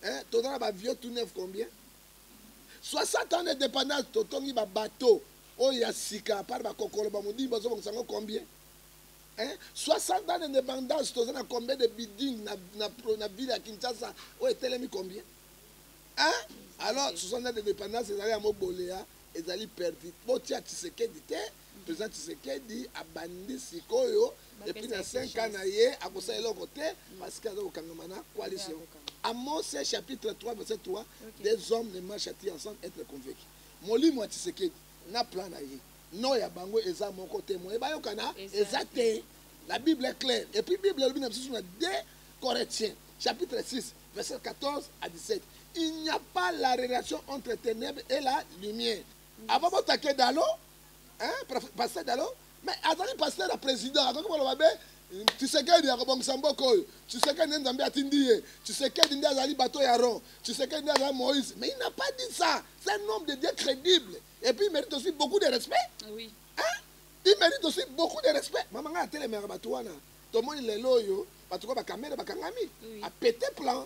eh, toza na bavio tout neuf combien 60 ans de dépendance totongi babateau oyo ya sika apart bakokolo bamodimi bazobongisa yango combien eh, 60 ans de dépendance toza na combien de building na, na, na ville ya kinshasa oyo etelemi combien eh? alors 60 ans de dépendance ezali ya mobolea ezali perdu botia tshisekedi te President Tshisekedi abandi sikoyo et puis na 5 ans na ye akosala eloko te parce que aza kokangama na coalition. Amos chapitre 3 verset 3 des hommes ne marchent ensemble être convaincu. Molimo ya Tshisekedi na plan na ye no ya bango eza moko te moye bayokana eza te la bible est claire et puis bible elobi na biso na 2 corinthiens chapitre 6 verset 14 à 17 il n'y a pas la relation entre ténèbres et la lumière Avant bo taquer Dalo, hein, pasteur Dalo, mais azali pasteur ya président, akoki koloba be Tshisekedi akobongisa mboka oyo, Tshisekedi nde Nzambe atindi ye, Tshisekedi nde azali bateau ya Aaron, Tshisekedi nde azali Moïse, mais il n'a pas dit ça. C'est un homme de Dieu crédible et puis il mérite aussi beaucoup de respect. Oui. Hein? Il mérite aussi beaucoup de respect. Mama nga atelemaka bato wana. Tomoni lelo oyo bato kwa bakamere bakangami. Oui. Apete plan.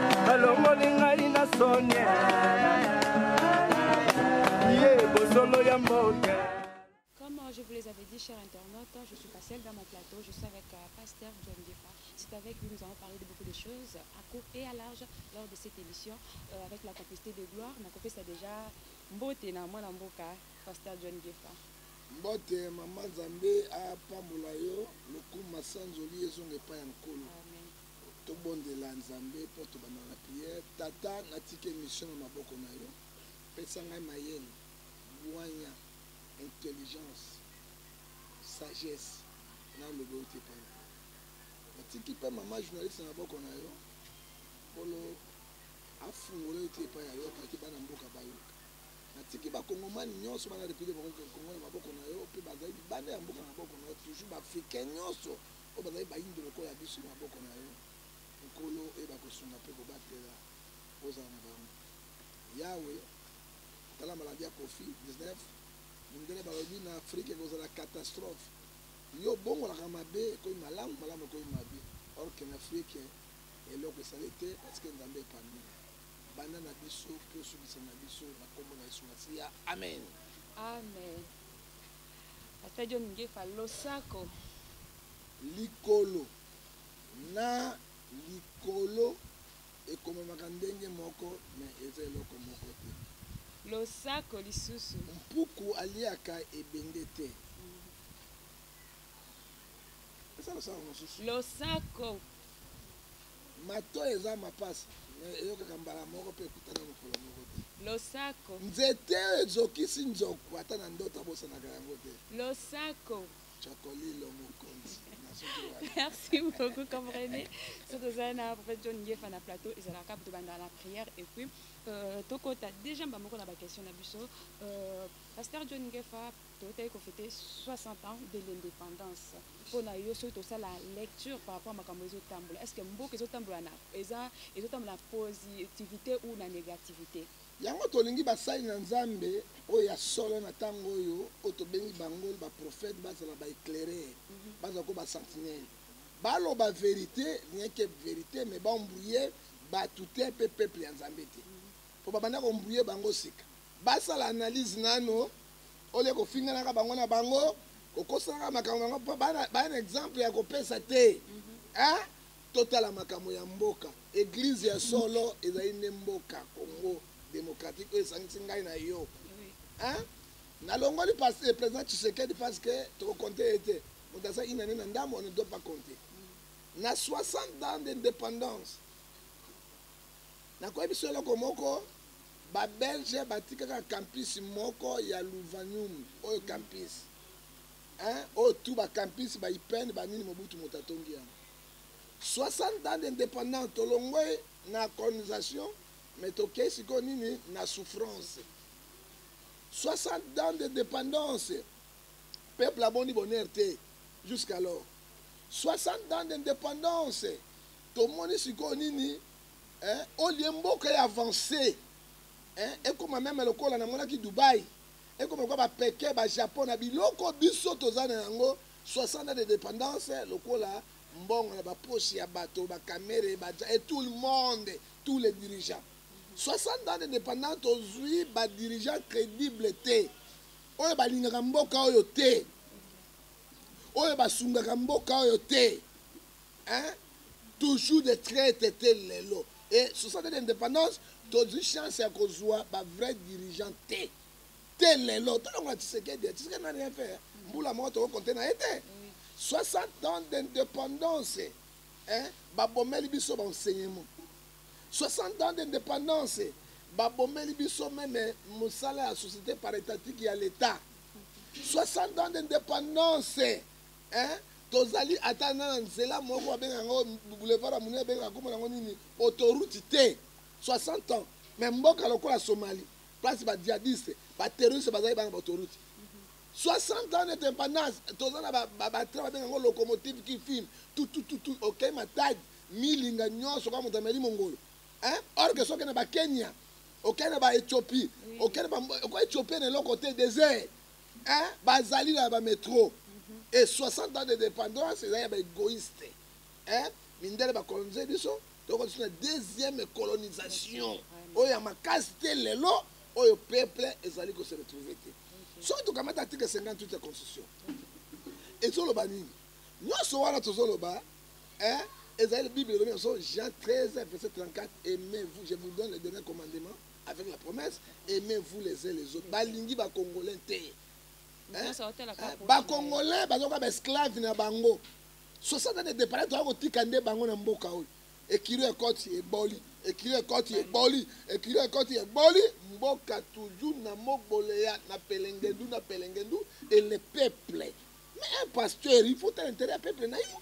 balongoli ngai na sonie ye bosolo ya mboke Comme euh, je vous les avais dit, chers internautes, je suis pas seule dans mon plateau, je suis avec euh, Pasteur John Gefa. C'est avec lui nous allons parler de beaucoup de choses, à court et à large, lors de cette émission, euh, avec la complicité de Gloire. Ma copie, c'est déjà Mbote, na moi, na Mboka, Pasteur John Gefa. mbote mama nzambe apambola yo lokumu masanzoli ezonga epai ya nkolo Amen. Tobondela Nzambe mpo tobanda na prière. Tata, natika emission na maboko na yo. Pesa ngai mayele, bwanya, intelligence, sagesse na loba euti epai na yo. Natiki mpe mama journaliste na maboko na yo. Nkolo afungola euti epai ya yo paki bana mboka bayoka. Natiki bakongomani nyonso bana République Congo na maboko na yo mpe bazali libanda ya mboka na maboko na yo toujours baafricain nyonso oyo bazali baindo lokola biso na maboko na yo, Nkolo, oyeba kosunga mpe kobatela, ozala na bango. Yawe, tala maladi ya Koffi 19, mindele balobi na Afrique ekozala catastrophe, yo obongolaka mabe ekomi malamu, malamu ekomi mabe, or que na Afrique eloko esali te parce que Nzambe epambi yo. Banda na biso mpe osukisa na biso, na kombo na Yesu Masiya, amen. Amen. Pasta John Ngefa losako. Likolo na likolo ekomamaka ndenge moko mais eza eloko moko te. Losako lisusu. Mpuku aliaka ebende te. Eza losako mosusu. Losako. Matoyi eza mapasi mais eyokaka mbala moko pe ekutana mokolo moko te. Losako. Nzete oyo ezokisi nzoku ata na ndoto abosanaka yango te. Losako. Cocolilo mokonzi na suki wana. Merci beaucoup comprene so toza na prophète John Ngefa na plateau ezalaka kaka tobanda na prière et puis euh, tokota déjà mbamoko na ba question na biso euh, pasteur John Ngefa Tokei ko feter 60 ans de l'independance mpo na yo soki tosala lecture par rapport makambo ezo tambola est-ce que mboka ezo tambola na eza ezo tambola na positivite ou na negativite? Yango tolingi basali na Nzambe oyo ya solo na tango oyo oyo tobengi bangol ba prophètes bazala ba eclaires bazala ko ba sentinelles baloba verite rien que verite mais ba embrouiller batu te mpe peuple ya Nzambe te mpo babanda ko embrouiller bango sika. Basala analyse nanu au lieu kofinganaka bango na bango kokosanaka makambo yango mpo bana baya na exemple ya kopesa te hein? totala makambo ya mboka eglise ya solo ezali nde mboka congo démocratique oyo esangisi ngai na yo hein? nalongoli pas- eh, président tshisekedi parce que tokokonte ye te moto aza inane na ndambo on ne doit pas compter na 60 ans d'indépendance Nakoyebisa yo eloko moko, ba belge batika kaka campus moko ya Louvanium oyo campus hein, oyo tout ba campus ba IPN ba nini Mobutu moto atongi yango. 60 ans d'independance tolongwe na colonisation mais tokei sikoyo nini na souffrance. 60 ans de dependance peuple amoni bonheur te jusqu'alors. 60 ans d'independance tomoni sikoyo nini eh, olie mboka ya avance eh, ekoma meme lokola namonaki dubai ekoma lokola bapeke bajapon na biloko biso toza na yango 60 de dépendance lokola mbongo na bapoche ya bato bakamere baja et tout le monde tous les dirigeants 60 ans de dépendance tozwi badirigeant crédible te oyo balingaka mboka oyo te oyo basungaka mboka oyo te hein toujours des traites te lelo et 60 d'indépendance tozwi chance ya kozwa ba vrai dirigeant te te lelo tolongola tshisekedi tshisekedi na rien fait mbula moko tokokonte na ye te 60 ans d'indépendance hein babomeli biso ba enseignement 60 ans d'indépendance babomeli biso meme mosala ya société par étatique ya l'état 60 ans d'indépendance Eeh tozali ata na na nzela moko babengaka ngo boulevard ya monene babengaka kombo na ngo nini autoroute te 60 ans mais mboka lokola Somalie place ba djihadiste ba terroriste bazali bana ba autoroute 60 ans nete impendance toza na ba train babengaka ngo locomotive qui file tutututu okei matadi milinga nyonso kaka moto ameli mongolo eh? or que soki na ba Kenya okei na ba Ethiopie okei na ba Ethiopie na eloko te désert Hein bazali na ba metro et 60 ans de dependance ezali ya ba egoïste hein mindele ba colonise biso tokoti na deuxième colonisation oyo ya makasi te lelo oyo peuple ezali ko se retrouver te soki tokamata article 58 ya constitution ezoloba nini nyonso wana tozoloba hein ezali bible elobi na biso Jean 13 verset 34 aimez-vous je vous donne le dernier commandement avec la promesse aimez vous les uns les autres balingi ba congolais te hein? hein? ba congolais bazoka ba esclave na bango 60 ans de départ toa kotika nde bango na mboka oyo ekilo ya koti eboli ekilo ya koti eboli ekilo ya koti eboli mboka toujours na moboleya na pelengendu na pelengendu et le peuple mais un pasteur il faut un intérêt ya peuple na yo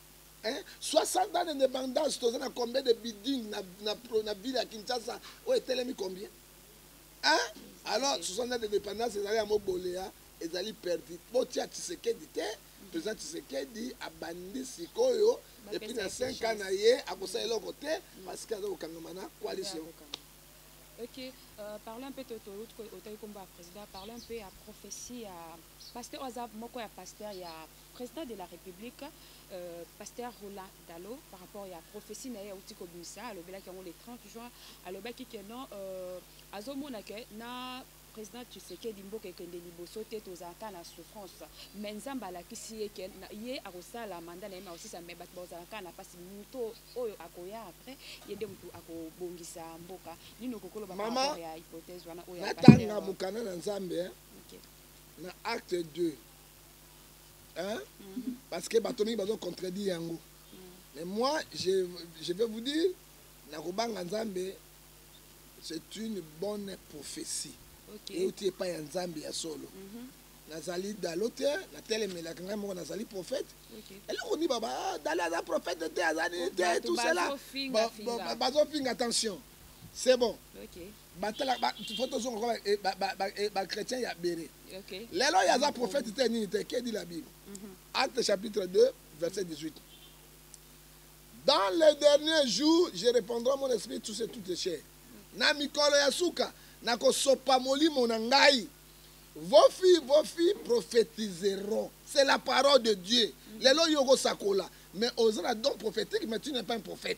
Hein? 60 ans d'indépendance, toza na combien de buildings na, na, na ville ya Kinshasa oyo etelemi combien? Hein? Alors 60 ans d'indépendance ezali yango boleya ezali perdu. Botia Tshisekedi te, président Tshisekedi abandi sikoyo et puis na 5 ans na ye akosala eloko te parce que aza kokangama na coalition. Ok, euh, parle un peu de ton autre côté, au président, parle un peu à prophétie, à... parce que Oza, moi, quoi, pasteur, il y a President de la Republique, euh, Pasteur Roland Dalo, par rapport à prophétie naye ya Utiko Bimisa, alobelaki yango le 30 juin, alobaki que non, euh, azomona que na président Tshisekedi mboka ekende liboso te tozalaka na souffrance mais nzambe alakisi ye ke ye akosala manda na ye maosisa mais bato bazalaka na mpasi moto oyo akoya après ye nde motu akobongisa mboka nini okokoloba par ya hypothèse wana oyo natanga mokanda na nzambe okay. na acte 2 hein? Mhm. parce que bato mingi bazo contredire yango mhm. mais moi je, je vais vous dire nakobanga nzambe c'est une bonne prophétie okay. euti epai ya nzambe ya solo mm -hmm. nazali dalo te natelemelaka ngai moko nazali prophète okay. eloko nini baba ah, dalo aza prophète te aza nini te tout cela bazofinga attention c'est bon okay. batala ba, faut tozonga kwa eh, ba, ba, ba, eh, ba chrétien ya bere okay. lelo ye aza prophète te nini te ke dit la bible mm -hmm. acte chapitre 2 verset 18 dans les derniers jours je répondrai mon esprit tout ce toutes les chairs na mikolo ya suka nakosopa molimo na ngai vos filles vos filles prophétiseront c'est la parole de dieu mm -hmm. lelo yo okosakola mais oza na don prophétique mais tu n'es pas un prophète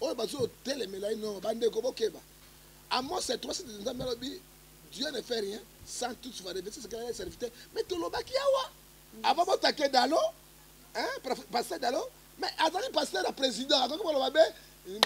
oyo bazotelemela ye noo bandeko bokeba amos ya 3 nzambe alobi dieu ne fait rien sans tout va reverser ce qu'il a serviteur mais tolobaki awa avant botake dalo hein pasteur dalo mais azali pasteur ya président akoki koloba be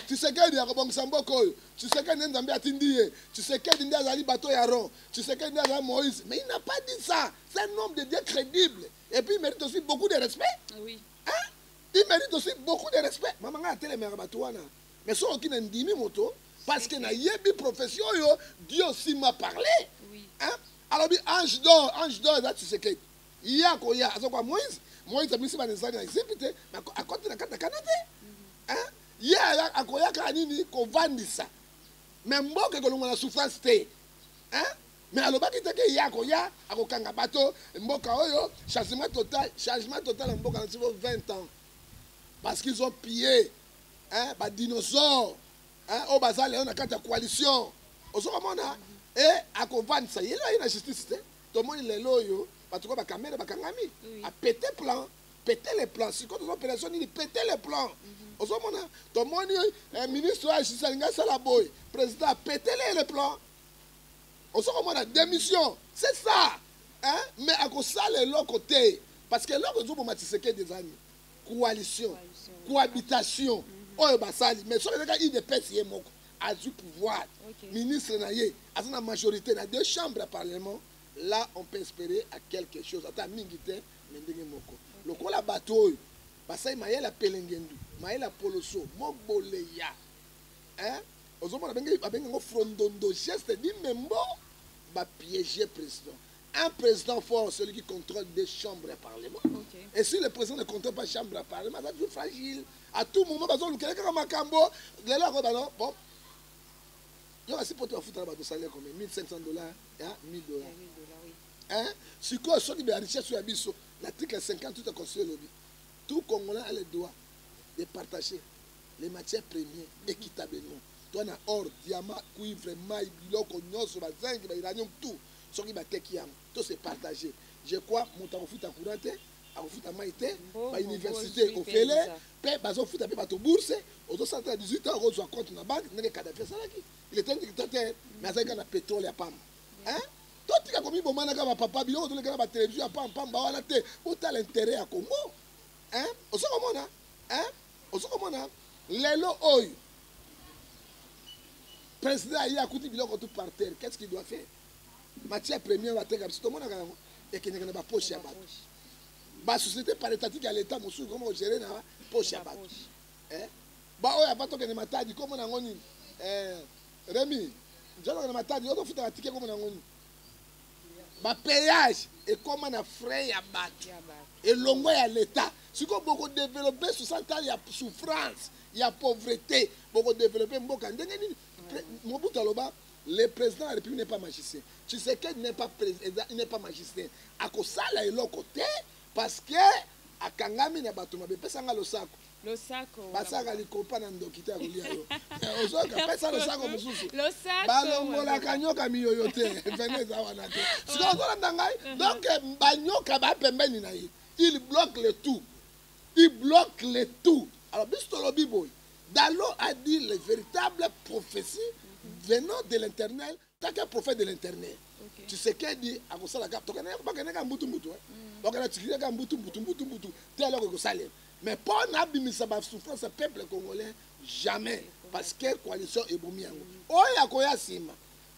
tshisekedi akobongisa mboka oyo tshisekedi nde nzambe atindi ye tshisekedi nde azali bato ya ron tshisekedi nde azali moïse mais il n'a pas dit ça c'est un homme de dieu crédible et puis il mérite aussi beaucoup de respect oui. hein? il mérite aussi beaucoup de respect mama ngai atelemaka bato wana mais soki oki nandimi moto parce que nayebi profession oyo dieu aussi m'a parlé oui. hein? alobi ange d'or ange d'or eza tshisekedi ye akoya azokoya moïse moïse abimisi bana ezali na ezipi te akoti na kati na kana te mhm. ye akoyaka nini kovandisa mais mboka ekolongola souffrance te Mais alobaki te ke ye akoya akokanga bato mboka oyo changement total changement total na mboka na biso 20 ans parce qu'ils ont pillé hein ba dinosaures hein oyo baza lelo na kati ya coalition ozokomona e akovandisa ye lelo ye na justice te tomoni lelo oyo bato ko bakamere bakangami apete plan pete le plan sikoyo toza operation nini pete le plan mhm. ozomona tomoni eh, ministre oyo ya justice alingi asala boye président apetele ye le plan ozo komona démission c'est ça hein? mais akosala eloko te parce que eloko ezoboma tshisekedi eza nini coalition cohabitation mhm. oyo basali mais soki ezaka idps ye moko azwi pouvoir ministre na ye aza na majorité na deux chambres ya parlement là on peut espérer à quelque chose ata mingi te mais ndenge moko lokola bato oyo basali mayele ya pelengendu mayele ya poloso moboleya hein? ozomona abengi abengi yango frondondo geste di membo bapiéger président un président fort celui qui contrôle des chambres ya parlement okay. et si le président ne contrôle pas chambre ya parlement aza toujours fragile à tout moment bazolukela kaka makambo lelo akoyeba no bon yo kasi poto bafutaka bato salaire combien 1500 dollars ya 1000 dollars hein sikoyo soki ba richesse ya biso l'article 58 ya constitution elobi tout congolais a le droit de partager les matières premiers équitablement toi na or diamant cuivre mai biloko nyonso ba zinc ba iranium tout soki bateki yango to se partager je crois moto akofuta courant te akofuta mai te ba université ofele mpe bazofuta mpe bato bourse ozosala te na 18 ans okozwa compte na banque ndenge kadafi asalaki il était un dictateur mais azalaki kaka na pétrole ya pamba hein totika komibomanaka bapapa biloko tolekana batelevizio ya pampamba wana te botala interet ya congo osokomona ozo komona lelo oyo président aye akuti biloko tout par terre qu'est ce qu'il doit faire matière première bateka biso tomonaka yango ekendeke na bapoche ya bato basociété par étatique ya l'état mosusu koma kogere na poche ya bato eh? baoyo ava tokende matadi komona yango nini eh, remi nzalokende matadi yo tofutaka tike komona yango nini ba payage ekoma na frais ya bato elongo ya leta sikoyo bokodevelope 60 ans ya souffrance ya pauvreté bokodevelope mboka ndenge nini mobutu aloba le président de la république n'est pas magicien tshisekedi n'est pas président n'est pas magicien akosala eloko te parce que akangami na bato mabe epesa nga losako losako basaka likopa na ndoki te akolia yo eh, ozoka pesa losako mosusu balongolaka nyoka miyoyo te vene eza wana te sikoyo ozolanda ngai uh-huh. donc eh, banyoka bapembeni na ye il bloque le tout il bloque le tout alors biso tolobi boye dalo a dit les véritables prophéties venant de l'éternel kaka prophète de l'internet okay. tshisekedi akosala kaka tokendaka kaka mbutu mbutu bakenda tikili kaka mbutu mbutu mbutu mbutu te eloko ekosalema mais mpo na abimisa basouffrance ya peuple congolais jamais parce que coalition ebomi yango oyo akoya nsima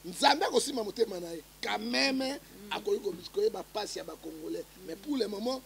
nzambe akosimba motema na ye quand meme akoki koyeba mpasi ya bacongolais mais pour le moment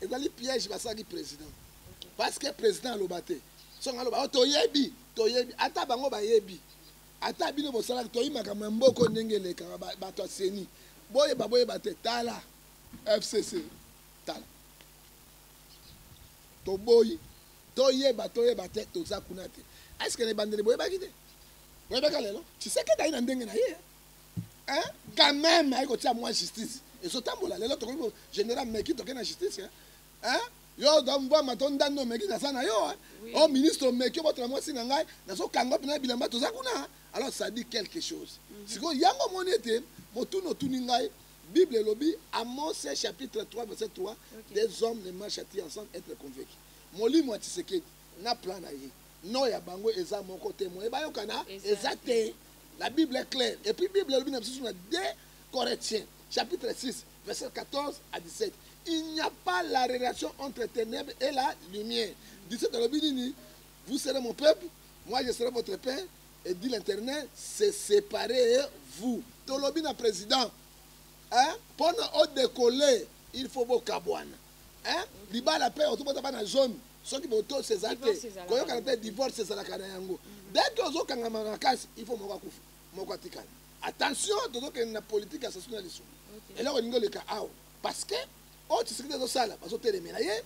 Ezali piège basalaki president. Parce que president aloba te. Soki aloba oh, toyebi, toyebi ata bango bayebi. Ata bino bosalaki toyebi makambo ya mboko ndenge elekaka bato ya CENI. Boyeba boyeba te tala FCC tala. Toboyi toyeba toyeba te toza kuna te. Est-ce que na ebandeli boyebaki te? Boyebaka lelo? Tshisekedi ayi na ndenge na ye. hein quand même ayi kotia mwa justice ezotambola lelo tokoki général meki toke na justice hein yo dombwama to ndando omeki naza na yo o ministre omeki obotela mwasi na ngai nazokanga mpena bilamba toza kuna alors ça dit quelque chose mhm. sikoyo yango omoni ete motuni otuni ngai bible elobi amos chapitre 3 verset 3 des hommes ne marche ti ensemble être convaincu molimo ya tisekedi na plan na ye no ya bango eza moko te moye bayokana eza te La Bible est claire. Et puis Bible elobi na biso na 2 Corinthiens chapitre 6 verset 14 à 17. Il n'y a pas la relation entre ténèbres et la lumière. 17 elobi nini? Vous serez mon peuple, moi je serai votre père et dit l'internet, c'est séparer vous. Tolobi na président. Hein? Pona o décoller, il faut bokabwana. hein libala pe ozobota bana jaune soki botosi eza te koyokana te divorce ezalaka na yango mhm. dès que ozokangama makasi il faut moko akufa moko atikala attention tozokende na politique ya sasu na lisu eloko elingi oleka awa parce que oyo tshisekedi azosala bazotelemela ye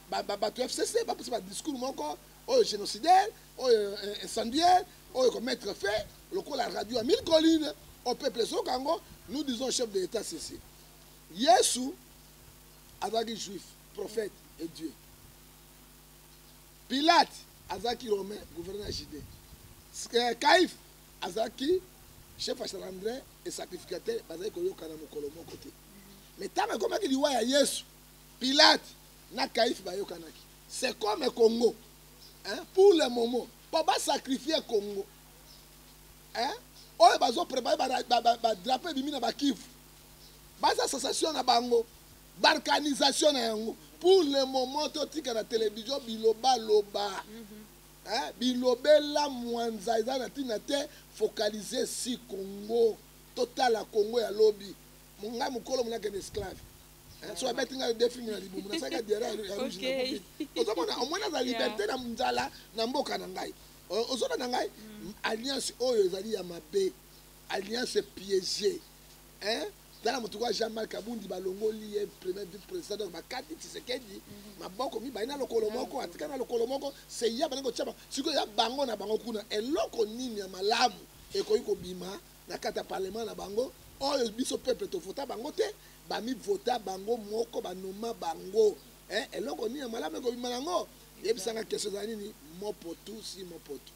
bato ya fcc bapesa badiscours moko oyo génocidaire oyo eh, incendiaire oyo commettre fait lokola radio ya mille colline au peuple ezoka yango nous disons chef de l'état ceci Yesu azalaki juif, prophète et Dieu. Pilate azalaki romain, gouverneur ya Judée. Euh, Caïphe azalaki chef ya Salamdrin et sacrificateur, bazalaki koyokana mokolo moko te. Mais ntango ekomaki liwa ya Yesu, Pilate na Caïphe bayokanaki. C'est comme Congo. Hein? Pour le moment, mpo basacrifie Congo. Hein? oyo bazoprepare badrapo ebimi na bakivu baza association na bango barkanisation na yango pour le moment totika na télévision bilobaloba mm -hmm. hein? bilobela mwanza eza na ntina te focalise si congo totala congo ya lobi monga mokolo monakende esclave hein? so abeti ngai defi na libumu nasalaka diara ya rouge ozomona omoni aza liberté na nzala na mboka na ngai ozona na ngai mm. alliance oyo ezali ya mabe Alliance piège hein tala motu kwa Jean Marc Abundi balongoli ye premier vice président donc bakati Tshisekedi mhm. maboko mibale na lokolo moko atika na lokolo moko c'est ya bana kotia siko ya bango na bango kuna eloko nini ya malamu ekoki kobima na kata parlement na bango oyo biso peuple tovota bango te bamivota bango moko banoma bango eh, eloko nini ya malamu ekobima yango yebisanga kestion ezala nini mopotu si mopotu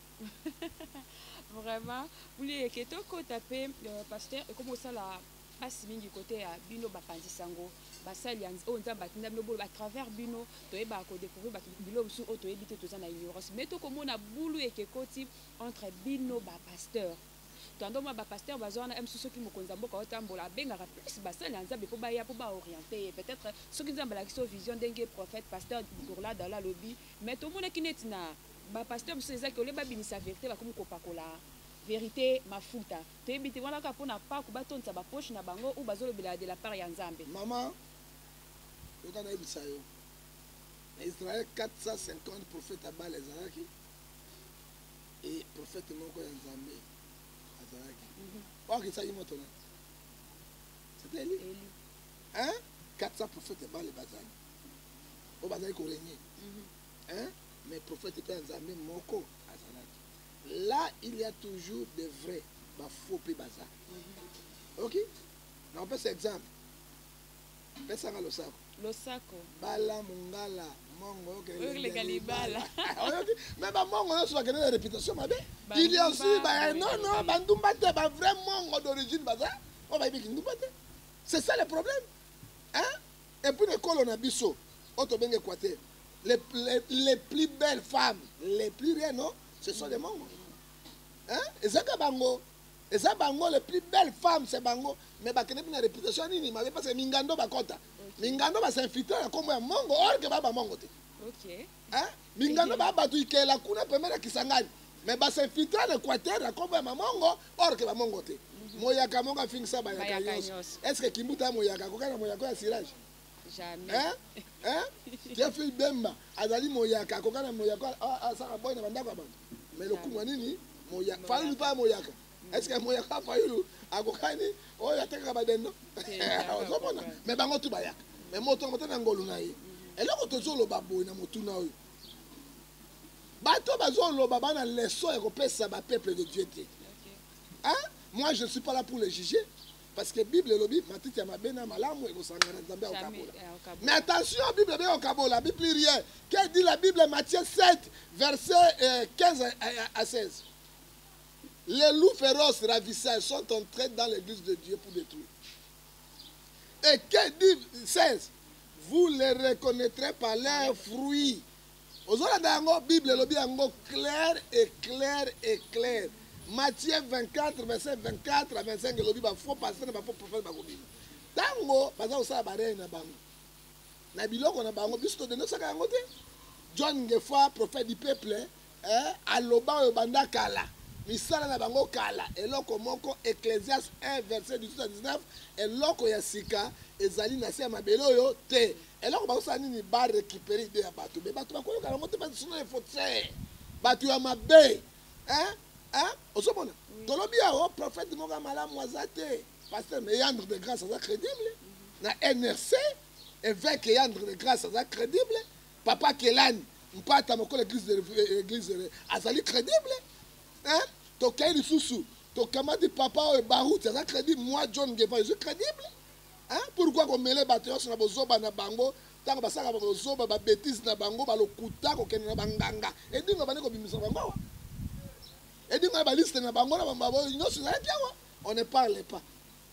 vraiment mulie ke tokota mpe euh, pasteur ekomi kosala mpasi mingi kote ya bino bapanzi sango basali oyo oh, nzambe atinda bino bolo à travers bino toyebaka kodécouvrir bato bilo mosusu oyo oh, toyebi te toza na ignorance mais tokomona bulu eke ekoti entre bino bapasteur tando mwa bapasteur baza wana msu soki mokonzi ya mboka otambola abengaka plus basali ya nzambe mpo baya mpo baoriente ye peut-être soki nzambe alakisi yo vision ndenge prophète pasteur gourlad ala alobi mais tomonaki neti na Ba pasteur biso eza que ole babimisa verite bakomi kopakola verite mafuta toyebi te wana kaka mpo na paku batondisa ba poche na bango ou bazolobela de la part ya nzambe. Mama yoka nayebisa yo na Israël 450 prophète ya Bala ezalaki et prophète moko ya Nzambe azalaki mhm. oakisaki moto na c'était Eli hein 400 prophète ya Bala bazali oyo bazali koregne mhm. hein mais prophète pe ya nzambe moko azalaki là il y a toujours des vrais ba faux pe baza ok nakopesa exemple pesanga losako losako bala mungala mongo okelega libala oyoki me bamongo nyonso bakende na réputation mabe il y a aussi ba non non bandumba te ba vrai mongo d'origine baza oyo bayebi kindumba te c'est ça le problème hein Et puis na ekolo na biso oyo tobengi Equateur, les, les, les plus belles femmes, les plus rien, non Ce sont les Mongo. Hein Ezaka bango. Eza bango, les plus belles femmes, c'est bango. Mais bakende na réputation nini mabe parce que mingando bakota. Mingando ba s'infiltre na kombo ya Mongo, or que ba ba Mongo te. Ok. Hein Mingano ba batu ikela kuna pembeni ya Kisangani mais ba s'infiltra na Equateur na kombo ya Mamongo or que ba Mongo te. Mhm. Moyaka mongo afingisa ba yaka nyos. Est-ce que Kimbuta moyaka akoka na moyaka ya sirage? Jamais. Hein? Hein? Jeffrey Bemba azali moyaka akoka na moyaka asaka boy na bandako ya batu. Mais lokumu nini? Moyaka. Fali lupa moyaka. est ce que moya ka fayulu akokani oyo atekaka badendo ozomona mais bango tu bayaka mais moto yango te na ngolu na ye eloko tozoloba boye na motuna oyo bato bazoloba bana leso ya kopesa bapeuple de dieu te hein? moi je ne suis pas là pour le juger parce que bible elobi matiti ya mabe na malamu ekosangana nzambe akokabola eh, mais attention bible ebe okabola bi plus rien que dit la bible matthieu 7 verset 15 euh, à 16 Les loups féroces ravisseurs sont entrés dans l'église de Dieu pour détruire. Et que dit 16 Vous les reconnaîtrez par leurs fruits. ozolanda yango bible elobi yango clair et clair et clair matthieu 24 verset 24 à 25 elobi bafaux pasteur na bafaux prophète bakobima ntango baza kosala bareye na bango na biloko na bango biso todendosaka yango te john ngefa prophète du peuple eh, aloba oyo banda kala misala na bango kala eloko moko ecclesias 1 verset 18 19 eloko ya sika ezali na se ya mabele oyo te eloko bakosala nini barecupere ide ya bato me bato bakoyoka yango te basuna efote bato ya mabe ozomona mm. tolobi yango prophète moko ya malamu aza te pasteur me yandre de grâce aza crédible na nrc évêque yandre de grâce aza crédible Papa Kelani mpata mokolo eglise de eglise de azali credible hein tokei lisusu tokamati papa oyo baruti aza credible moi John Ngeva je suis credible hein pourquoi komele bato nyonso na bozoba na bango ntango basalaka babozoba babetise na bango balokuta kokende na banganga edingo bandi kobimisa bango awa edingo ya baliste na bango na bambaboyo nyonso ezalaki awa on ne parle pas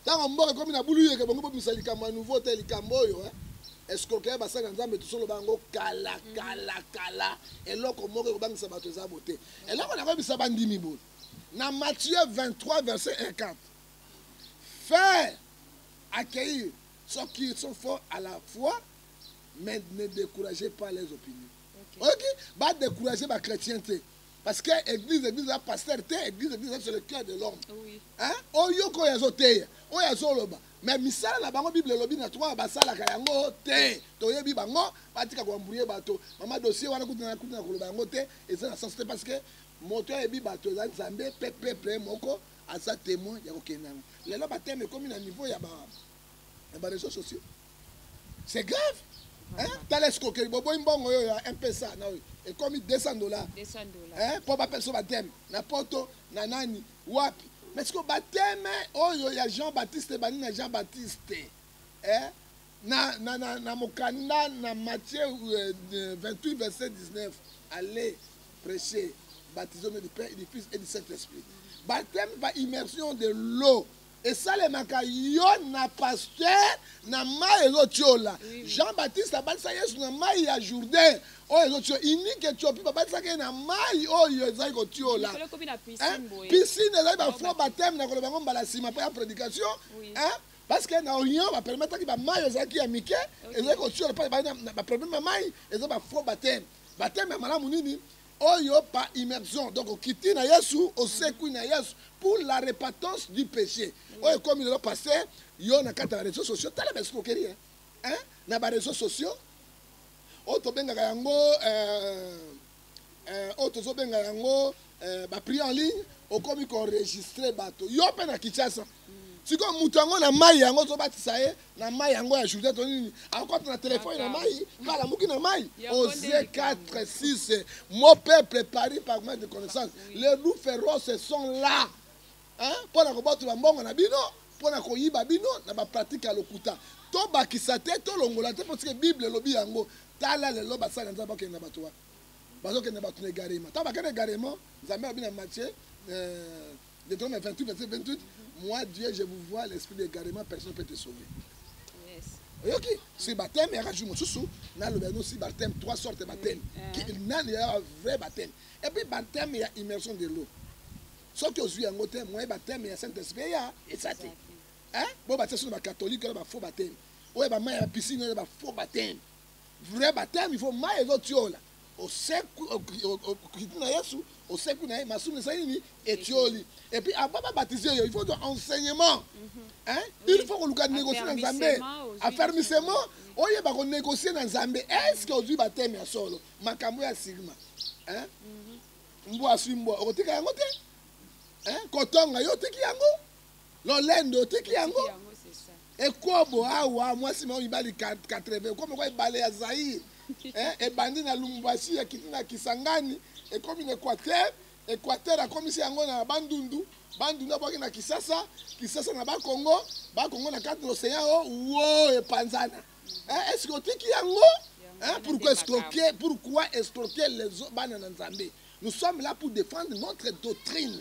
Tango mboka ekomi na bulu yeke bongo bomisa likambo ya nouveau te likambo oyo hein. escroquerie basali na nzambe tosoloba yango kala mm. kala kala eloko moko ekobangisa bato eza bo te eloko nakoyebisa bandimi boye na matthieu 23 verset 14 faire accueillir ceux qui sont forts à la foi mais ne découragez pas les opinions oyoki badécourage bachrétien te parce que église église eza pasteur te église église eza sur le cœur de l'homme oyoka oyo azoteya oyo azoloba mais misala na bango bible elobi na twa basalaka yango te toyebi bango batika koambrouye bato mama dossier wana kutu na kutu na koloba yango te eza na sens te parce que moto ayebi bato eza nzambe mpe peuple moko aza témoin ya kokende yango lelo bateme ekomi na niveau ya ba ya bareseau sociaux c'est grave hein? tala escroquerie boboyi mbongo yo ya mpesa na oyo ekomi 200 dollars hein? mpo bapesa so bateme na poto na nani wapi mais siko bateme oyo ya jean baptiste bani na jean baptiste hein? na, na, na, na mokanda na matthieu euh, 28 verset 19 allez prêcher baptisé du père et du fils et du saint esprit baptême par immersion de l'eau esalemaka yo na pasteur na mai ezotiola jean baptiste abatisa yesu na mai ya jourdain oyo ezotio unique etiopi babatisaki ye na mai oyo ezali kotiola piscine ezali bafo bateme na koloba yango mbala nsima mpo ya prédication parce que na orient bapermetaki bamai ezalaki ya mike ezali kotiola mpo baproblème ya mai eza bafo bateme bateme ya malamu nini Oyo pa immersion donc okiti na Yesu osekwi na Yesu pour la repentance du péché. Oyo ekomi lelo passé yo na kati ya réseaux sociaux tala ba escroquerie hein? hein? na ba réseaux sociaux oyo tobengaka yango euh, euh, oyo tozobenga yango euh, ba prix en ligne okomi koenregistre bato yo mpe na kinshasa sikoyo moto yango na mai yango ozobatisa ye na mai yango ya jourdain to nini akokota na telefone na mai mpe alamuki na mai ose 46 mo peuple paris par manque de connaissance les loups féroces sont là mpo na kobotola mbongo na bino mpo na koyiba bino na bapratike ya lokuta tobakisa te tolongola te mpo sike bible elobi yango tala lelo basali na nzambe bakende na bato wana bazokende bato na egarema ntango bakende egarema nzambe alobi na matie euh, Deutéronome 28, verset 28, moi Dieu, je vous vois l'esprit d'égarement, personne ne peut te sauver. oyoki si bateme yaka jour mosusu naloba yango si bateme trois sorte bateme mm, nani yaka vrai bateme epuis bateme ya immersion de l'eau soki ozwi yango te moye bateme ya saint esprit eya eza te bo batia soki bacatholique wana bafaux bateme oyo bamai ya piscine wana bafaux bateme vrai bateme il faut mai ezotiola osekwi okiti na yesu osekwi na ye masumu esali nini etioli epuis avant babatize yo il faut to enseignement mhm. hein il faut koluka négocie na nzambe affermissement oyeba konégocie na nzambe est ce que ozwi bateme ya solo makambo ya sigma hein mhm. mbwa aswi mbwa okotika yango te hein kotonga yo otiki yango lolendo otiki yango ekobo awa mwasi mao mibali 80 okomi kwa ebale ya zaire eh, ebandi na lumumbashi ekiti na kisangani ekomi na equateur equateur akomisi yango na bandundu bandundu abwaki na kisasa kisasa na bakongo bakongo na kati na ocean o wo epanzana eh, eske otiki yango eh, pourquoi escroquer pourquoi escroquer les bana na nzambe nous sommes là pour défendre notre doctrine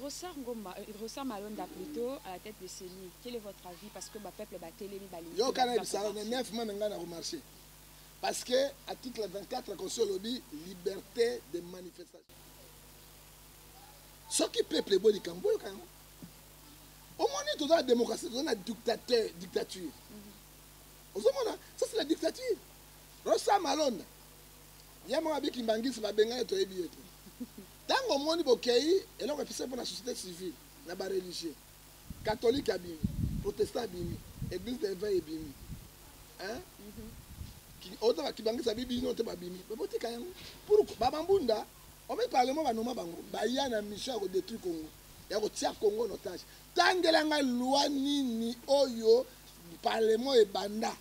Rosar Ngoma, euh, Rosar Malonda plutôt à la tête de CENI. Quel est votre avis parce que ba peuple ba telemi ba lingi. Yo kana bisala na 9 mois nga na remarcher. Parce que article 24 la constitution lobi liberté de manifestation. Soki peuple boni kambo yo kana. Au moins nous dans la démocratie, dans la dictateur, dictature. Au mhm. moins ça c'est la dictature. Rosar Malonda. Yamwa biki mbangisi ba benga to ebi yetu. Tango omoni bokeyi eloko epesaki mpo na societe civile na ba religieux, catholique abimi, protestant abimi, eglise d'eveil ebimi eeh ozo ba kibangisa bi bino te babimi mais botika yango pourquoi ba mambunda omi parlement ba noma bango baya na mission ya ko detruire Congo ya kotia Congo en otage tangela ngai loi nini oyo parlement ebanda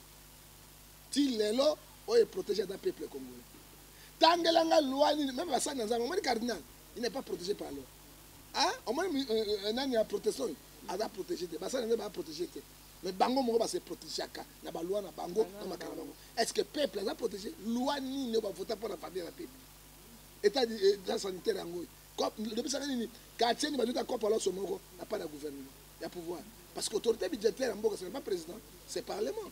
ti lelo oyo e proteger ata peuple congolais tangela nga loi nini meme basani na nzambe omoni cardinal il n'est pas protégé par loi ah omoni euh, euh, euh, nani ya protestant oyo aza protégé te basani na nzambe ba protégé te mais bango moko base protegeaka na baloi na bango na makala bango est ce que peuple aza protégé loi nini oyo bavota mpo na famille na peuple etat sanitaire yango oyo lobisaka nini quartier ni bajuta kopa loso moko na pas na gouvernement ya pouvoir parce que autorité budgétaire ya mboka ce n'est pas président c'est parlement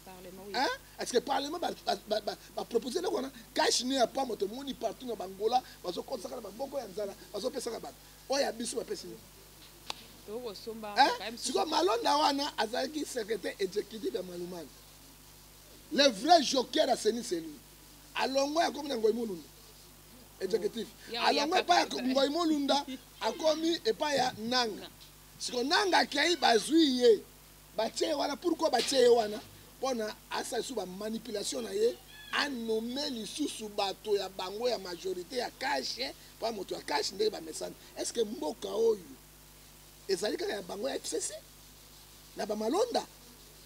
hein est-ce que parlement ba ba ba, ba proposer le wana cash ni ya pamo to moni partout na bangola bazo konsaka na maboko ya nzala bazo pesaka ba oya biso ba pesi hein siko malonda wana azalaki secrétaire exécutif ya malumani le vrai joker à seni c'est lui alongo ya komi na ngoi mulundu executif alongo epai ya ngoi molunda akomi epai ya nanga siko nanga akei bazwi ye batie ye wana pourkui batie ye wana mpona asala lisusu bamanipulation na ye anome lisusu bato ya bango ya majorité ya kashe mpo moto ya kashe ndenge bamesani est ce que mboka oyo ezali kaka ya bango ya fcc na bamalonda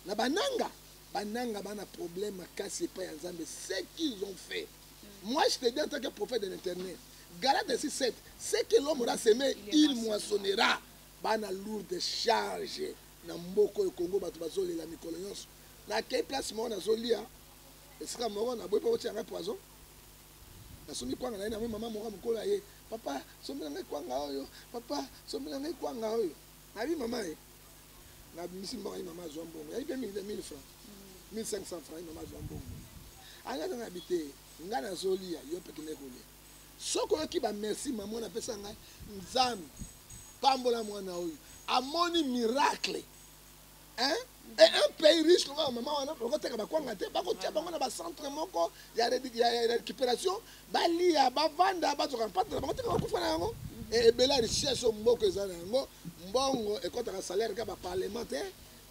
na bananga bananga bana problème makasi epai ya nzambe ce qu'ils ont fait Moi, je te dis en tant que prophète de l'internet, Galates 6, 7, ce que l'homme aura semé, il moissonnera. Bana lourde charge na mboko ya Congo bato bazolela mikolo nyonso. Na kei place moko nazolia esika moko na boyi mpo kotia ngai poison. Nasombi kwanga na ye na mama moko mokolo ya ye, papa sombela ngai kwanga oyo, papa sombela ngai kwanga oyo. Abi maman eh. Na bimisi mbongo ye maman azwa mbongo. Yabi pe mingi te 1000 francs. 1500 francs ye maman azwa mbongo. Anga na abi te. Nga na zolia yo pe kende kolia. Soko yoki ba merci maman na pesa nga Nzambe pambola mwana oyo. Amoni miracle. hein et un pays riche lokola mama wana bakoteka bakwanga te bakotia bango na bacentre moko ya récupération balia bavanda bazoka mpata na bango te bakufa na yango ebele ya richesse oyo mboko eza na yango mbongo ekɔtaka salaire kaka baparlement te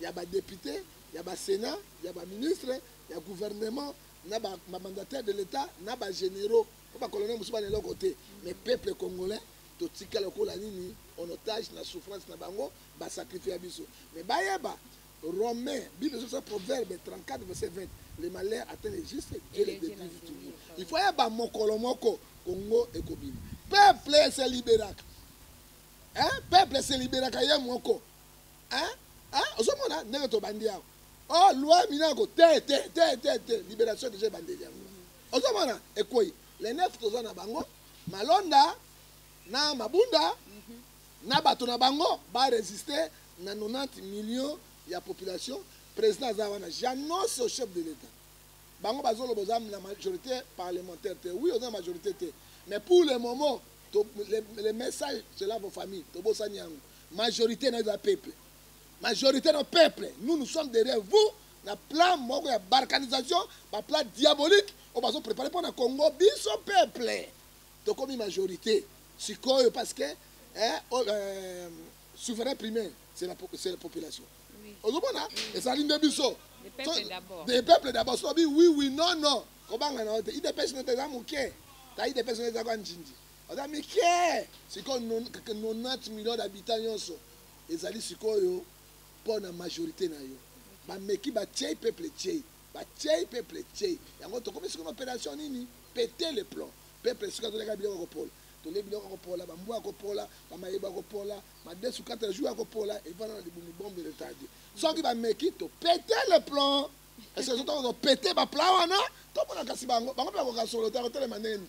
ya badepute ya basénat ya baministre ya gouvernement na bamandataire de l'état na bagénéraux mpo bacolonel mosusu bana eloko te mais peuple congolais totikala kola nini en otage na souffrance na bango ba sacrifia biso mais bayeba Romain, Bible sur ça, Proverbe 34, verset 20. Le malheur atteint les justes, Dieu les détruit toujours. Il faut yaba mokolo moko, Congo et Kobim. Peuple se libéraka. Hein? Peuple se libéraka ye moko. Hein? Hein? Ozomona ndenge tobandi yango. Oh, loi minako, te, te, te, te, te. Libération déjà bandeli yango. Ozomona ekweyi. Les neuf toza na bango, Malonda, na Mabunda, na bato na bango ba resister na 90 millions ya population president aza wana j'annonce chef de l'etat bango bazoloba oza na majorité parlementaire te oui oza na majorité te mais pour le moment to, le, le message cela vos familles tobosani yango majorité na eza peuple majorité na peuple nous nous sommes derrière vous na plan moko ya balkanisation baplan diabolique oyo bazoprépare mpo na congo biso peuple tokomi majorite sikoyo parce que eh, oh, euh, souverain primaire c'est la, la population oui. ozomona oui. ezali nde biso des peuples d'abord so bi oui oui non non kobanga na yo te idps no te eza moke ta idps no eza kwa njinji oza mike sikoyo 90 million d'habitant nyonso ezali sikoyo mpo na majorité na yo bameki batiei peuple tiei Ba tieyi peuple tieyi yango tokomi sikoyo na operation nini? Pete le plomb peuple sikoyo azolya kaka biloko ya kopola tolye biloko ya kopola ba mbwa ya kopola ba mayebo ya kopola madesu kata ya jour ya kopola evanda na libumu bombe retarde soki ba meki to pete le plomb est ce que tozo pete ba plan wana tomona kasi bango bango pe bakoka solo te akotelema ndenge nini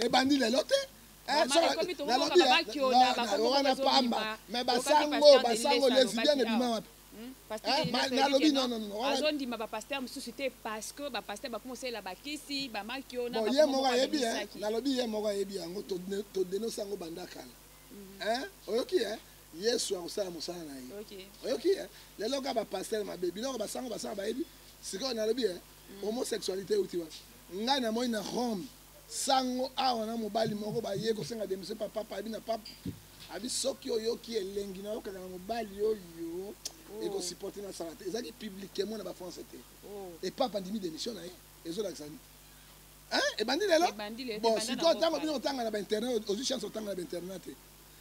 ebandi eh, lelo te Eh, wana pamba me basango basango lesbienne ebima wapi hmm? nalobi azondima bapaster mosusu te parce que bapaster bakoma osalela bakisi bamakiye moko ayebi eh? nalobi ye moko ayebi yango todenose yango banda kala mhm. eh? oyoki e yesu akosala mosala na ye oyoki e lelo kaka bapaster mabe biloko basango basanga bayebi sikoyo nalobi e homosexualité euti wapi Ngai na moni na Rome sango awa na mobali moko baye kosenga demission pa papa abi na papa abi soki oyoki elengi na yokaka na mobali oyo oh. ekosupporte na sala te ezalaki publiquement na bafrançais te oh. e papa andimi demission na ye ezolakisa nini ebandi lelo bon sikoyo ntango bino otanga na bainternat ozwi chance otanga na bainternat te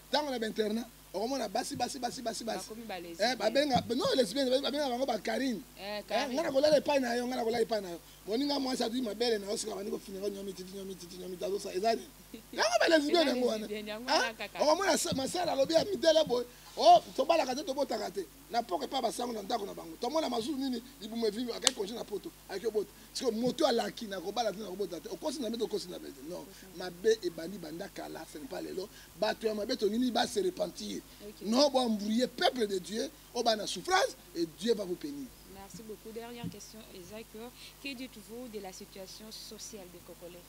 ntango na bainternat okomona basi basi basi basi basi eh, babenga no lesbienne babenga bango bakarine eh, eh, ngai nakolala epai na yo ngai nakolala epai na yo moninga mwasi atui mabele na yo sika bandi kofinaka nyomi titi nyomi titi nyomi tazosa eza nini yango balesbienne yango wana ah, okomona masala alobi ya midele boye o oh, tobalaka te tobotaka te na poko epai basango na ndako na bango tomona mazulu nini libumu evivi akai konje na poto aiki obota siko moto alaki na kobala te na kobota te okosi na mete okosi na mete non mabe ebandi banda kala ce n'est pas lelo bato ya mabe tongini ba se repentir non bo embrouiller peuple de Dieu au ba na souffrance et Dieu va vous bénir Merci beaucoup. Dernière question, Isaac. Que dites-vous de la situation sociale des Congolais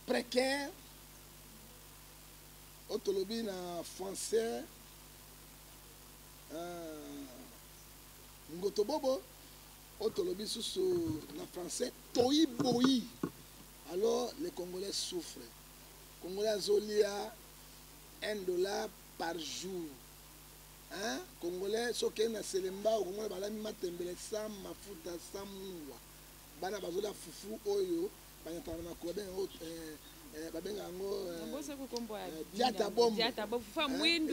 Précaire, otolobi na français, euh, ngotobobo, oyo tolobi susu na français toyi boyi alors les congolais souffrent congolais azolia 1 dollar par jour hein? congolais soki eye na selemba okomona balami matembele sans mafuta sans mungwa bana bazolia fufu oyo banyataka na makolo bene oyo eh, eh, babenga yango eh, eh, diata bombo eh,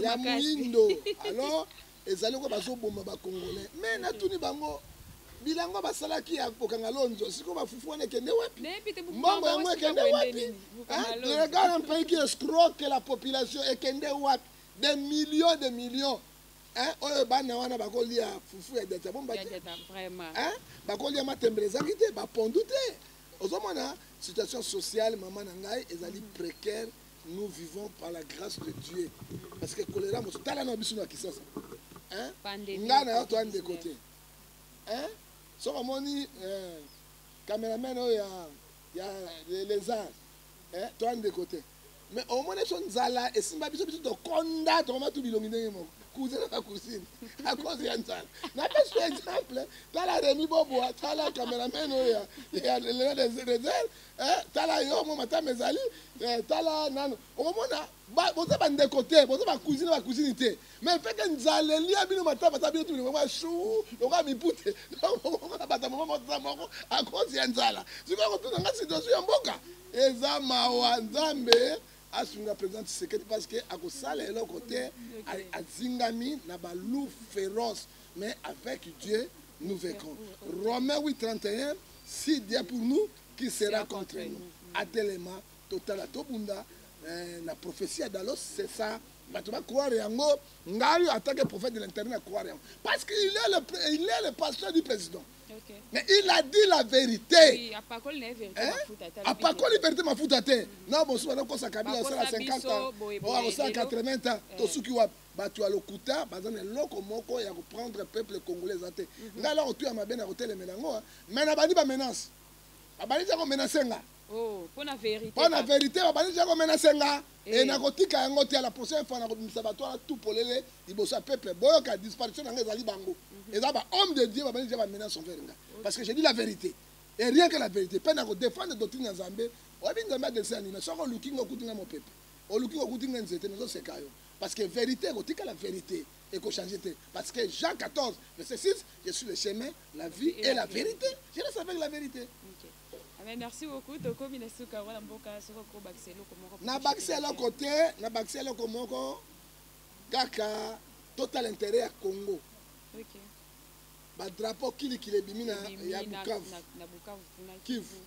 ya mwindo alors Ezali lokola bazoboma ba Congolais. Mais natuni bango bilanga basalaki ya kokanga lonzo sikoyo bafufu wana ekende wapi mbongo yango ekende wapi regarde un pays qui escroque la population ekende wapi des millions de millions hein oyo bana wana bakolia fufu ya diata bomba te hein bakolia matembele ezangi te bapondu te ozomona situation sociale mama na ngai ezali précaire nous vivons par la grâce de Dieu parce que choléra mosu tala na biso na kisasa hein nga na yo to ande côté hein soki omoni euh, cameraman oyo ya ya les arts hein to ande côté mais omoni biso nzala esimba biso biso tokonda tokoma tu bilongi ndenge moko cousin na cousine à cause ya nzala napesi exemple tala remi boboa tala cameraman oyo ya lelo des réserve eh, tala yo mwa matama ezali eh, tala nano okomona boza bandeko te boza bakusini bakusini te mais feke nzala elia bino matama ata bino tibinokoa shu lokola mipute okomona bata moko moza moko akozi ya nzala sikoyo kotuna nga situation ya mboka eza mawa nzambe asunga président tshisekedi parce que akosala eloko te azingami na balou féroce mais avec dieu nous vaincrons romain 8 31 Si Dieu pour nous, qui sera contre nous? Atelema totala tobunda eh, na prophetie ya Dalos, c'est ça. Bato ba croire yango, ngai en tant que prophète de l'intérieur na croire yango. Parce qu'il est le il est le pasteur du président. Okay. Mais il a dit la vérité. Oui, apakoli na vérité hein? mafuta te. Apakoli vérité mafuta te. Na bosu bana kosa kabila osala 50 ans. Bo akosa 80 ans. Tosuki wapi? Batu ya lokuta baza na eloko moko ya ko prendre peuple congolais eza te. Mhm. Nga eloko tu ya mabe na ko telemela yango hein. Mais na bandi ba menace. Ba bandi ja ko menacer nga. Oh, pona verite. Pona verite ba bandi ja ko menacer nga. Eh. Et na ko tika yango te la prochaine fois na ko bimisa batu ala tout polele liboso ya peuple. Boyo ka disparition na nga ezali bango. Mhm. Eza ba homme de Dieu ba bandi ja ba menace envers nga. Parce que j'ai dit la vérité. Et rien que la vérité. Pena ko défendre doctrine ya Nzambe. Oyebi Nzambe adelisa nini? Soko oluki nga okuti nga mopepe. oluki kokuti nga nzete nazoseka yo Parce que verite ekotikala verite eko changer te parce que Jean 14 verset 6 je suis le chemin la vie et, et la, la vérité. vérité je reste avec la vérité okay. Ah, mais merci beaucoup tokomi na suka wana mboka soki okobakisa eloko moko na bakisa eloko te na bakisa eloko moko kaka total intérêt ya congo okay. badrapo kilikili ebimi na ya bukavu kivu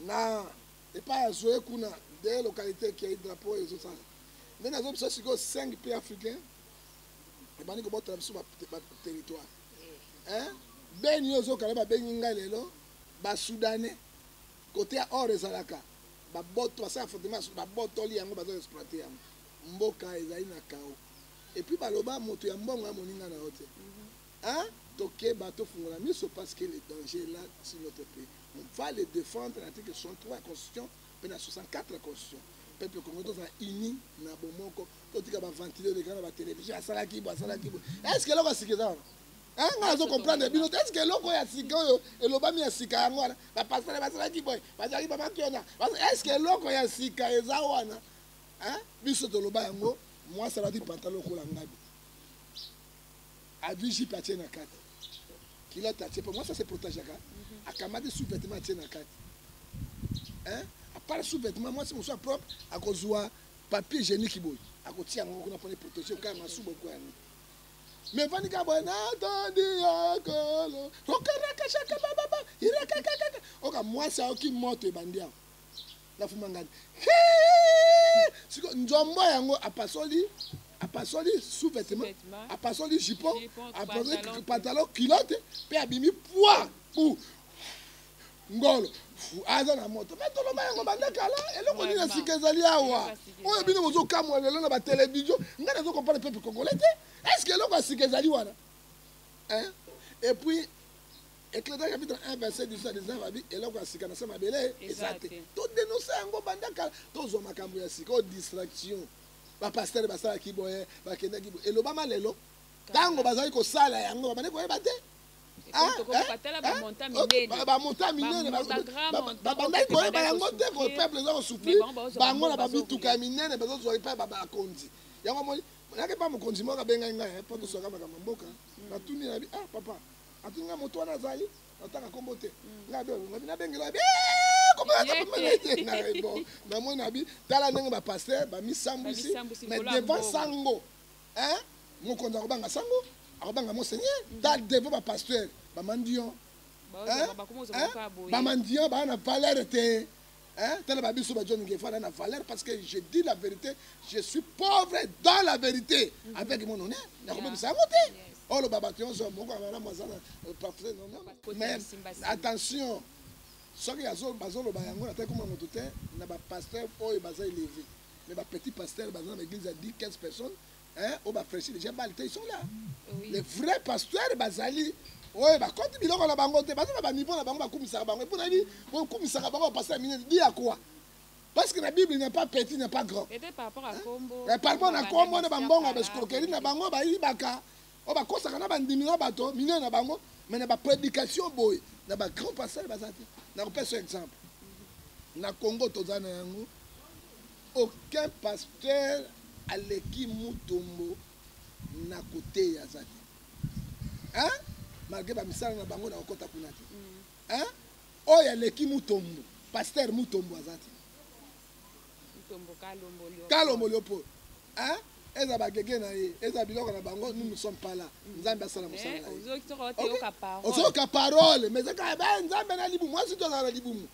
na epai ya zoe kuna de localité ekiai drapeau ezosala nde nazo biso sikoyo 5 pays africain ebandi kobotela biso baterritoire beni oyo ozokala babengi ngai lelo basoudanais kote ya or ezalaka baboto basala fortement babotoli yango bazo exploite yango mboka ezali na kao epuis baloba moto ya mbongo ya moninga na yo te Hein tokeba tofungola miso parce que le danger est là sur notre pays on va le defendre article 63 ya constitution pe na 64 ya constitution peuple congolais tozala uni na bomoko totika ba ventile oleka na ba television asalaki bo asalaki bo est ce que eloko asiki eza wana hein nga nazo comprendre bino est ce que eloko ya sika oyo elobami ya sika yango wana ba pasteur basalaki boye bazalaki ba makiona est ce que eloko ya sika eza wana hein biso toloba yango mwasi alati pantalon lokola ngabi Adui jipe atie na kati. Culotte atie po mwasi ase protegeaka. Mhm. Akamati sous-vêtement atie na kati. Hein? À part sous-vêtement mwasi mosusu propre akozwa papier hygiénique boye. Akotia yango kuna pona proteger kaka masuba kwa yango. Mais vani ka boye na tondi ya kolo. Rokaraka shaka baba. Irakaka. Oka mwasi aoki moto ebandi yango. na fumangani siko nzombo yango apasoli apasoli sous vêtement apasoli jupon apasoli pantalon culotte mpe abimi poi bu ngolo aza na moto me toloba yango banda kala eloko nini ya sika ezali awa oyo bino bozokamwa lelo na batelevizio ngai nazokompane pepe kongole te estce eloko ya sika ezali wana epuis Ecclesia chapitre 1 verset 18 na 19 abi eloko ya sika na se mabele eza te todenonse yango banda kala tozwa makambo ya sika oyo distraction bapastere basalaki boye bakendaki boye elobama lelo ntango bazali kosala yango babandi koyeba te bamonta minene babandaki koyeba yango te ko peuple eza kosufri bango na bamituka ya minene bazozwa epai bakonzi yango moni nake mpa mokonzi moko abengai ngai eh, mpo toswaka makambo ya mboka natuni nabi ah papa Ati nga moto wana azali nataka kombo te mm. nga be ngabi na bengela be bon na moni na bi tala ndenge ba pasteur ba misambwisi mais devant sango hein mokonzi akobanga sango akobanga monseigneur mm. ta devant ba pasteur ba mendiant ba mendiant ba na valeur te Hein? Tala ba biso ba John Ngefa na valeur parce que je dis la vérité, je suis pauvre dans la vérité mm -hmm. avec mon honneur. Na ko bimisa yango te. Oh le baba tionzo moko na mwa zana euh, parfait non non. Mais attention. Soki azo bazo loba yango na teko moto te na ba pasteur oyo baza élevé. Mais ba petit pasteur baza na église ya 10 15 personnes hein oyo bafreshi deja bale te iso la le vrai pasteur bazali oyo bakoti biloko na bango te baza na baniveau na bango bakumisaka bango epo nayebi kokumisaka bango bapasa ya minene di ya kua parce que na bible il n'y a pas petit il n'y a pas grand eh, par rapport na kombo na bambongo ya baescroquerie na bango bayibaka oyo bakosaka na bandimi na bato minene na bango me na bapredication boye na bagrand pasteur baza te nakopesa exemple na congo toza na yango aucun pasteur aleki mutombo na koteya aza te hein? malgré bamisala na bango na kokota kuna te hein? oyo aleki mutombo pasteur mutombo aza te kalomboli yo mpo eza bagege na ye eza biloko na bango nous ne sommes pas là nzambe asala mosala eh, na ye ozoyoka parole mais ezaka ba eh, nzambe na libumu mwasi to azala na libumu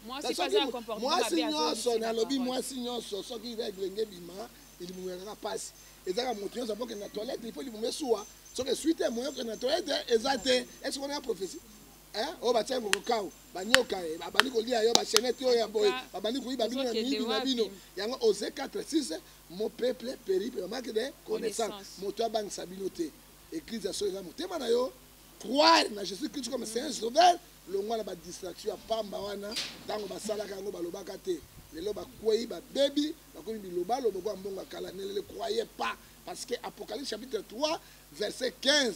mwasi nyonso nalobi mwasi nyonso soki regle nge bima libumu ya kaka mpasi ezaka moto nyonso apokende na toilette ifo libumu esuwa soki esui te moye okende na toilette eza te esoki wana ya prophesie Eh, oyo batya yango kokau banyoka eh, babandi kolia yo bachenete oyo ya boye babandi koyiba bino na miyibi na bino yango ose 46 mo peuple peri pe bamake de connaissance moto abangisa bino te eglise ya solo eza motema na yo croire na jésus christ comme seigneur sauveur longwa na badistraction ya pamba wana ntango basalaka yango balobaka te lelo bakwei babebi bakomi bilobaloba kwa mbongo ya kala nelele croye pas parce que apocalypse chapitre 3 verset 15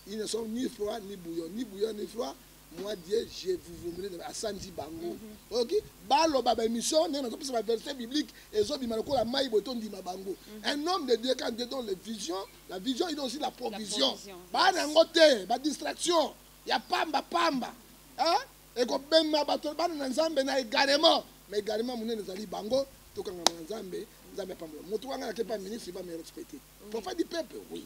Ils ne sont ni froid ni bouillon, ni bouillon ni froid. Moi Dieu, je vous vomirai dans asanzi bango. Mhm. OK? Balo baba émission, nous avons pris verset biblique et zo bima lokola mai boton dima bango. Mhm. Un homme de Dieu quand Dieu donne les visions, la vision il donne aussi la provision. Ba na ngote, ba distraction, ya pamba pamba. Hein? Et ko bema bato bana na Nzambe na également, mais également munene zali bango tokanga na Nzambe, Nzambe pamba. Moto wanga na kepa ministre va me respecter. Prophète du peuple, oui.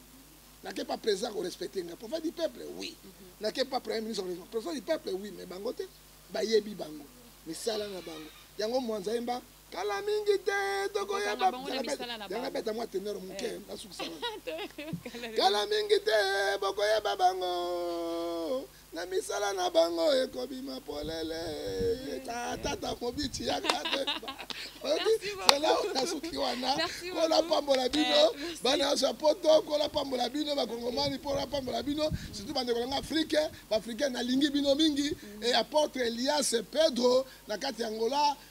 N'a que pas président qu'on respecte nga. Prophète du peuple, oui. N'a que pas premier ministre qu'on respecte. Prophète du peuple, oui. Mais bango te, ba yebi bango. Misala na bango. Yango mwanza yemba, kala mingi te, toko yeba. Yanga beta mwa teneur muke, eh. na sukisa. Kala mingi te, boko yeba bango. na misala na bango ekobima polele tata mobiti ya katemba zela nasuki wana kola pambola bino eh, bana nyonso ya poto kola pambola bino bakongomani mpola pambola bino surtout bandeko nanga afrike baafrikain nalingi bino mingi mm. e apotre elias pedro na kati ya ngola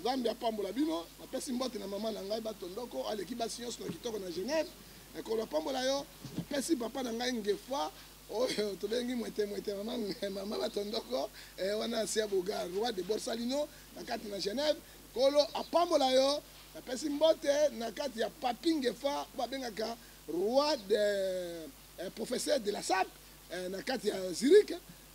Nzambe apambola bino. Napesi mbote na mama na ngai bato ndoko aleki basi nyonso na kitoko na Genève. Ekolo apambola yo. Napesi papa na ngai ngefa oyo tobengi mwete mwete mama mama bato ndoko eh, wana asi ya boga roi de Borsalino na kati na Genève. Kolo apambola yo. Napesi mbote na kati ya papi ngefa babengaka roi de eh, professeur de la sape eh, na kati ya Zurich.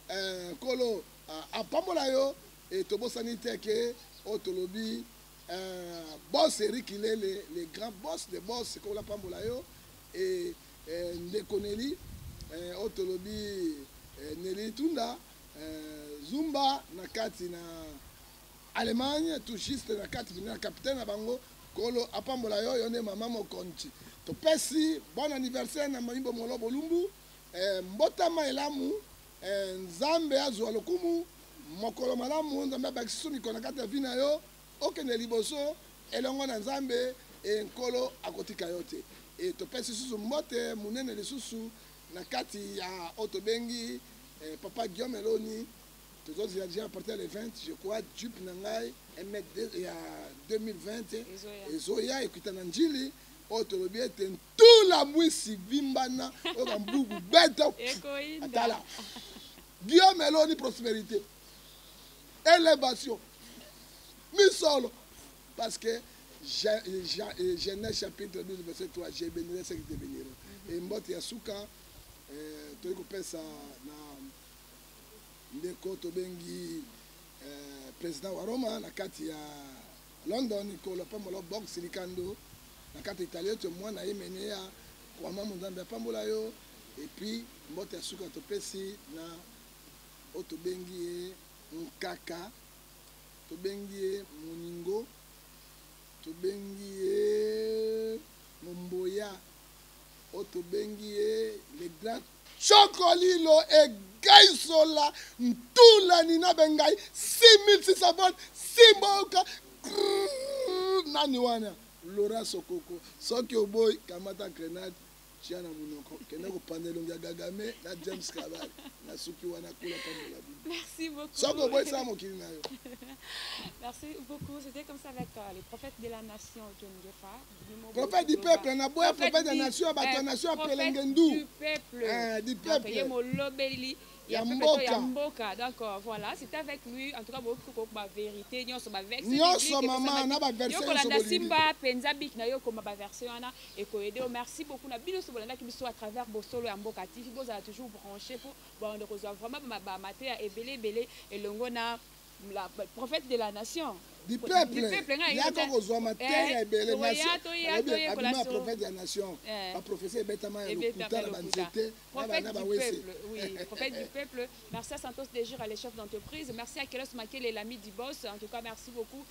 Eh, kolo ah, apambola yo. Et tobosani te que oyo oh, tolobi euh, boss Eric Ilele le grand boss de boss ko la pambola yo et euh, ndeko Nelly euh, oyo oh, tolobi euh, Nelly Tunda euh, Zumba na kati na Allemagne tout juste na kati na capitaine na bango kolo apambola yo yo nde mama mokonzi topesi bon anniversaire na mayimbo molo bolumbu eh, mbotama elamu Eh nzambe azua lokumu. Mokolo malamu nzambe abakisi su mikolo na kati ya vie na yo okende liboso elongo na nzambe eh nkolo akotika yo te eh topesi susu mbote munene lisusu na kati ya oyo tobengi eh, papa Guillaume Eloni tozozila deja à partir le 20 je crois jupe na ngai emet ya 2020 ezoya ekuita na njili oyo tolobi ete tula mwisi vimbana oyo bambugu beto atala guillaume eloni prosperité élévation misolo parce que genèse chapitre 12 verset 3 je bénirai ce qui te bénira mhm. e mbote ya suka eh, toyei kopesa na ndeko tobengi eh, président wa roma na kati ya London Nicola pambola box likando na kati italien to mwana ye mene ya kwama monzambe apambola yo et puis mbote ya suka topesi na oyo tobengi ye nkaka tobengi ye moningo tobengi ye momboya oyo tobengi ye le grand Tshoko lilo egai sola ntula nina bengai 6600 volt simboka grrrr nani wana Laura Sokoko soki oboyi kamata grenade tia na munoko kende kopanda elongi ya Gagame na James Kabari na suki wana kula pambola bino Merci beaucoup. soki oboyi sala mokili na yo Merci beaucoup. C'était comme ça avec euh, le prophète de la nation, John Gefa. prophète du peuple na boya prophète ya nation ya bato ya nation ya pelenge ndu du peuple ye molobeli ya mboka ya mboka donc euh, voilà c'est avec lui en tout cas bokoki kokoba vérité nyonso baverse nyonso mama na baverse yokolanda simba mpenza biki na yo okoma baverse wana ekoyede yo merci beaucoup na bino nyonso bolandaki biso à travers bosolo ya mboka tv bozala toujours branché mpo baonde kozwa vraiment bamateya ebele ebele elongo na la prophète de la nation du peuple yaka kozwa mateya eh, ebele nationabima prophète ya nation eh. baprofesi ebetama ya lokuta na banzete na bana bawese prophète du peuple merci à santos de jour à le chef d'entreprise merci à kelos makele l'ami du boss en tout cas merci beaucoup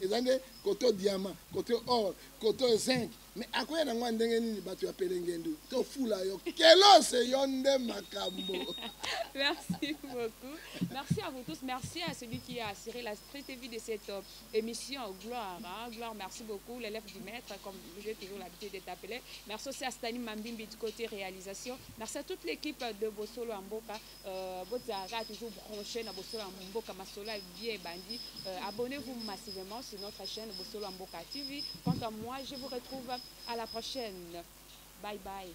eza nde kote oyo diamant kote oyo or kote oyo zinc mais akoya na ngo ya ndenge nini bato ya pelengendu tofula yo kelose yo nde makambo merci beaucoup merci à vous tous merci à celui qui a assuré la très vie de cette euh, émission gloire hein? gloire merci beaucoup l'élève du maître comme j'ai toujours l'habitude d'être appelé merci aussi à Stani Mambimbi du côté réalisation merci à toute l'équipe de Bosolo Amboka Euh, bozala kaka toujours branché na bosolo ya mboka masolo ya bie ebandi euh, abonnez-vous massivement sur notre chaîne bosolo ya mboka tv quant à moi je vous retrouve à la prochaine bye bye